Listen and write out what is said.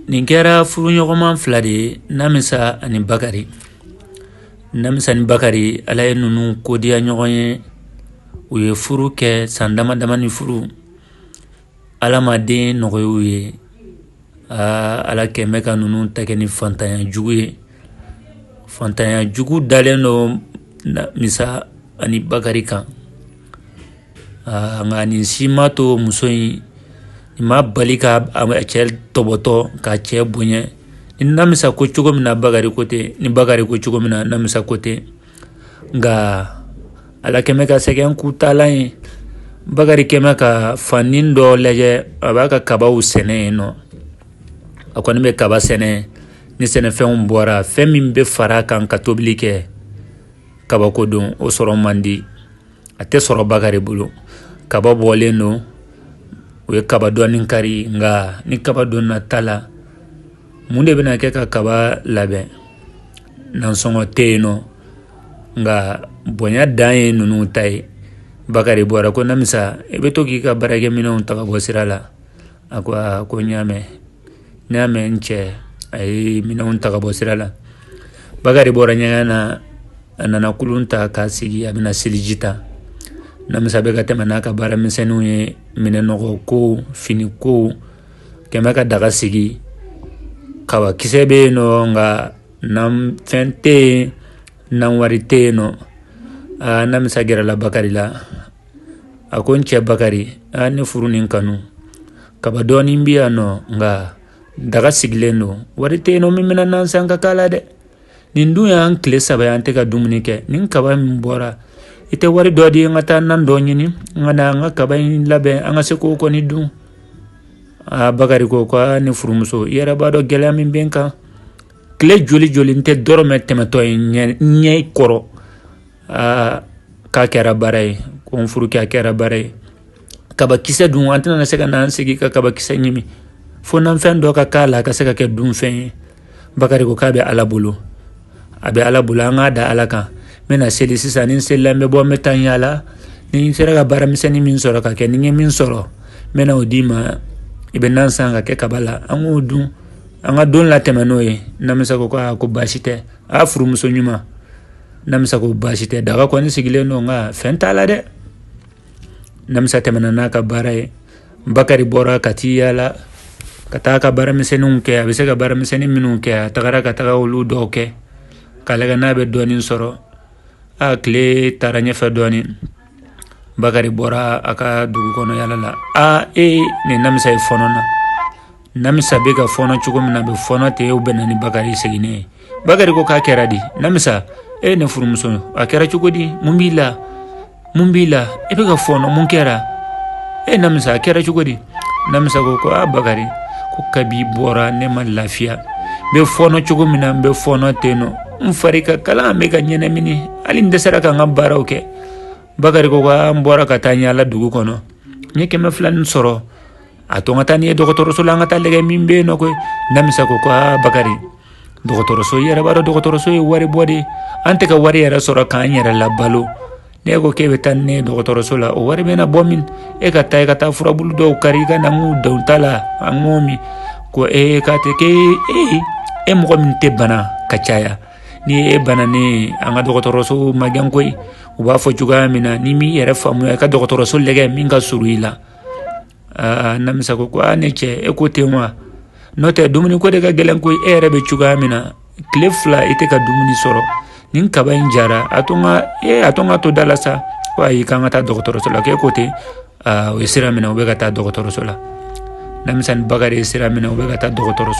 nin kɛra furuɲɔgɔnma fila de ye namisa ani bakari namisa ni bakari ala ye ninnu kodiya ɲɔgɔn ye u ye furu kɛ san dama dama ni furu ala ma den nɔgɔya u ye aa ala kɛmɛ ka ninnu ta kɛ ni fantanya jugu ye fantanya jugu dalen don namisa ani bakari kan aa nka nin si m'a to muso in nin ma bali ka a cɛ tɔbɔtɔ k'a cɛ bonya ni namisa ko cogo min na Bakari ko ten ni Bakari ko cogo min na namisa ko ten nka Ala kɛmɛ ka sɛgɛn k'u taalan ye Bakari kɛmɛ ka fanin dɔ lajɛ a b'a ka kabaw sɛnɛ yen nɔ a kɔni bɛ kaba sɛnɛ ni sɛnɛfɛnw bɔra fɛn min bɛ fara a kan ka tobili kɛ kabako don o sɔrɔ man di a tɛ sɔrɔ bakari bolo kaba bɔlen don u ye kaba dɔɔni kari nka ni kaba donna ta la mun de bɛna kɛ ka kaba labɛn nansɔngɔ tɛ yen nɔ nka bonya dan ye ninnu ta ye bakari bɔra ko namisa i bɛ to k'i ka baarakɛminɛnw ta ka bɔ sira la a ko aa ko n y'a mɛn n y'a mɛn n cɛ a ye minɛnw ta ka bɔ sira la bakari bɔra ɲɛgɛn na a nana kulun ta k'a sigi a bɛna seliji ta namisa bɛ ka tɛmɛ n'a ka baara misɛnninw ye minɛn nɔgɔ ko fini ko kɛmɛ ka daga sigi kaba kisɛ bɛ yen nɔ nka nan fɛn tɛ yen nan wari tɛ yen nɔ aa namisa gɛrɛla bakari la a ko n cɛ bakari a ne furu ni kanu kaba dɔɔnin bɛ yan nɔ nka daga sigilen don wari tɛ yen nɔ min bɛna nan san ka k'a la dɛ nin dun y'an tile saba ye an tɛ ka dumuni kɛ nin kaba min bɔra i tɛ wari dɔ di yan n ka taa nan dɔ ɲini n ka na an ka kaba in labɛn an ka se k'o kɔni dun aa bakari ko ko ne furumuso i yɛrɛ b'a dɔn gɛlɛya min bɛ n kan tile joli joli n tɛ dɔrɔmɛ tɛmɛtɔ ye ɲɛ kɔrɔ aa k'a kɛra baara ye ko n furukɛ a kɛra baara ye kabakisɛ dun an tɛna se ka n'an sigi ka kabakisɛ ɲimi fo nan fɛn dɔ ka k'a la a ka se ka kɛ dunfɛn ye bakari ko k'a bɛ ala bolo a bɛ ala bolo an k'a da ala kan n bɛna seli sisan ni n selila n bɛ bɔ n bɛ taa n yaala ni n sera ka baaramisɛnnin min sɔrɔ ka kɛ ni n ye min sɔrɔ n bɛna o d'i ma i bɛ nan san ka kɛ kaba la an k'o dun an ka don latɛmɛ n'o ye namisa ko ko baasi tɛ a furumuso ɲuman namisa ko baasi tɛ daga kɔni sigilen don nka fɛn t'a la dɛ namisa tɛmɛna n'a ka baara ye bakari bɔra ka t'i yaala ka taa ka baaramisɛnninw kɛ a bɛ se ka baaramisɛnnin minnu kɛ a tagara ka taga olu dɔw kɛ k'a lagɛ n'a bɛ dɔɔnin sɔrɔ a tile taara ɲɛfɛ dɔɔnin bakari bɔra a ka dugu kɔnɔ yala la aa ee nin namisa ye fɔɔnɔ na namisa bɛ ka fɔɔnɔ cogo min na a bɛ fɔɔnɔ ten o bɛnna ni bakari seginnen ye bakari ko k'a kɛra di namisa e ne furumuso a kɛra cogo di mun b'i la mun b'i la i bɛ ka fɔɔnɔ mun kɛra e namisa a kɛra cogo di namisa ko ko a bakari ko kabi bɔra ne ma lafiya n bɛ fɔɔnɔ cogo min na n bɛ fɔɔnɔ ten nɔ n fari ka kalan n bɛ ka ɲɛnɛmini hali n dɛsɛra ka n ka baaraw kɛ bakari ko n bɔra ka taa yala dugu kɔnɔ n ye kɛmɛ fila nin sɔrɔ a to n ka taa n'i ye dɔgɔtɔrɔso la an ka taa lagɛ min bɛ yen nɔ koyi namisa ko ko a bakari dɔgɔtɔrɔso i yɛrɛ b'a dɔn dɔgɔtɔrɔso ye wari bɔ de an tɛ ka wari yɛrɛ sɔrɔ k'an yɛrɛ labalo ne ko k'e bɛ taa ni ne ye dɔgɔtɔrɔso la o wari bɛna bɔ min e ka taa i ka taa furabulu dɔw kari i ka na n k'u ta la an k'o min ko ee k'a tɛ k'e e mɔgɔ min tɛ bana ka caya ni e banana an ka dɔgɔtɔrɔso magɛn koyi u b'a fɔ cogoya min na n'i m'i yɛrɛ faamuya i ka dɔgɔtɔrɔso lagɛ min ka surun i la namisa ko ko a ne cɛ e ko ten wa n'o tɛ dumuni ko de ka gɛlɛn koyi e yɛrɛ bɛ cogoya min na tile fila i tɛ ka dumuni sɔrɔ nin kaba in jara a to n ka e a to n ka to da la sa ko ayi k'an ka taa dɔgɔtɔrɔso la k'e ko ten u ye sira minɛ u bɛ ka taa dɔgɔtɔrɔso la namisa ni bakari ye sira minɛ u bɛ ka taa dɔgɔtɔrɔso